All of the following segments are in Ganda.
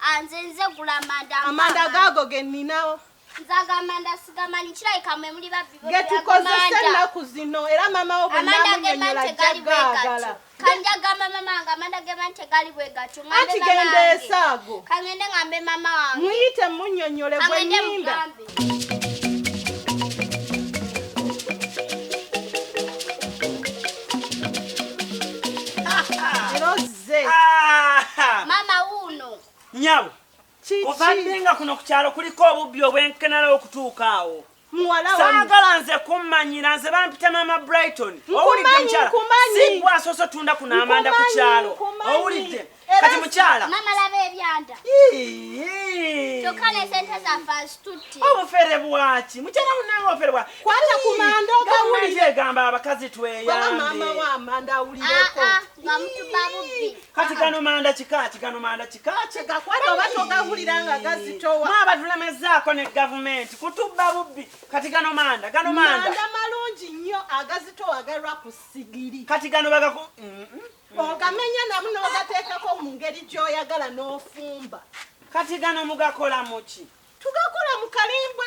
Ah, nze nze gula amanda amanda gaago ge nninawo nze ago amanda sigamanyi kirabika mwe muli babbi getukozesa ennaku zino era maama wo bwenamunyonyola jagaagala kanjagamba mama wange amanda gema nti gali bwe gatyo anti genda esaago kangende ngambe mama wange muyite munyonyole gwenyimba nze ah! mama wuuno nyabo kuvadde nga kuno ku kyalo kuliko obubbi obwenkenala okutuuka awo saagala nze kummanyira nze bampita maama brighton owulidde mukyala sigwa asoose tunda kuno amanda ku kyalo owulidde kati mukyala obufere bwaki mukyala munange obufere bwaki egamba abakazi tweyambe nga mutuba bubbi kati gano manda kikaaki gano manda kikaaki gakwata oba togawulira nga gazitowa mwaba tulemazaako ne gavumenti kutubba bubbi kati gano manda gano manda manda malungi nnyo agazitowa galwa ku sigiri kati gano bagaku mm, mm, mm. ogamenya namu n'ogateekako mu ngeri gy'oyagala n'ofumba kati gano mugakola muki tugakola mu kalimbwe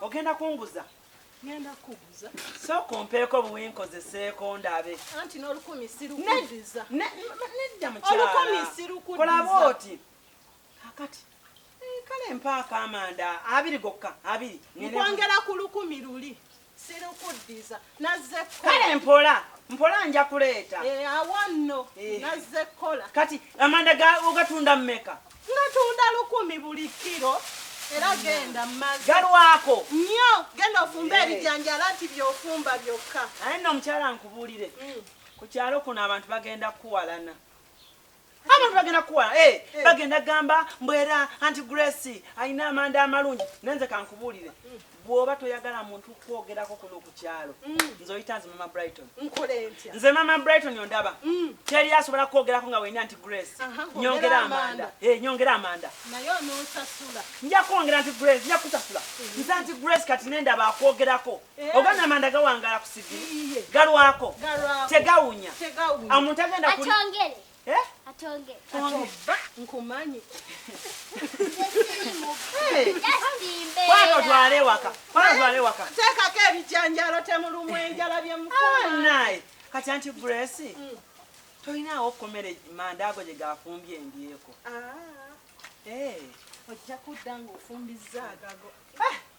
Ogenda kunguza? Ngenda kukuguza. Sooka ompeeko obuwi nkozeseeko ndabe. Anti n'olukumi sirukudiza. Nedda mukyala. Olukumi sirukudiza. Kola bw'oti. Kakati eh, kale mpaako amanda abiri gokka abiri. Nkwongera ku lukumi luli sirukuddiza nazze kale mpola mpola nja kuleeta eh, awanno eh. nazze kkola kati amanda ogatunda mmeka Natunda lukumi buli kiro era genda mazi galwako nnyo genda ofumba eh. ebijanjala nti byofumba byokka naye nno omukyala nkubuulire mm. ku kyalo kuno abantu bagenda kukuwalana abantu bagenda kukuwala eh, eh. bagenda gamba mbwera anti grace alina amanda amalungi nenze kankubuulire mm. bwoba toyagala muntu kukwogerako kuno ku kyalo mm. nze oyita nze mama brighton nze mama brighton ondaba mm. teri asobola kukwogerako nga wenya nti grace nyongera amanda eh, nyongera amanda nja kwongera nti grace nja kusasula mm. nza nti grace kati nendaba akwogerako eh. ogana amanda gawangala ku sigi galwako tegawunya omuntu agenda Eh? Atonge. Atonge. Nkumanyi. Kwano twale waka. Kwano twale waka. Teka ke bijanjalo temulumwe enjala bye mukoma. Ah, nae. Kati anti Grace. Mm. Toyina okomere manda ago je gafumbye ndiyeko. Ah. Eh. Ojja kudanga ofumbiza agago. Ah.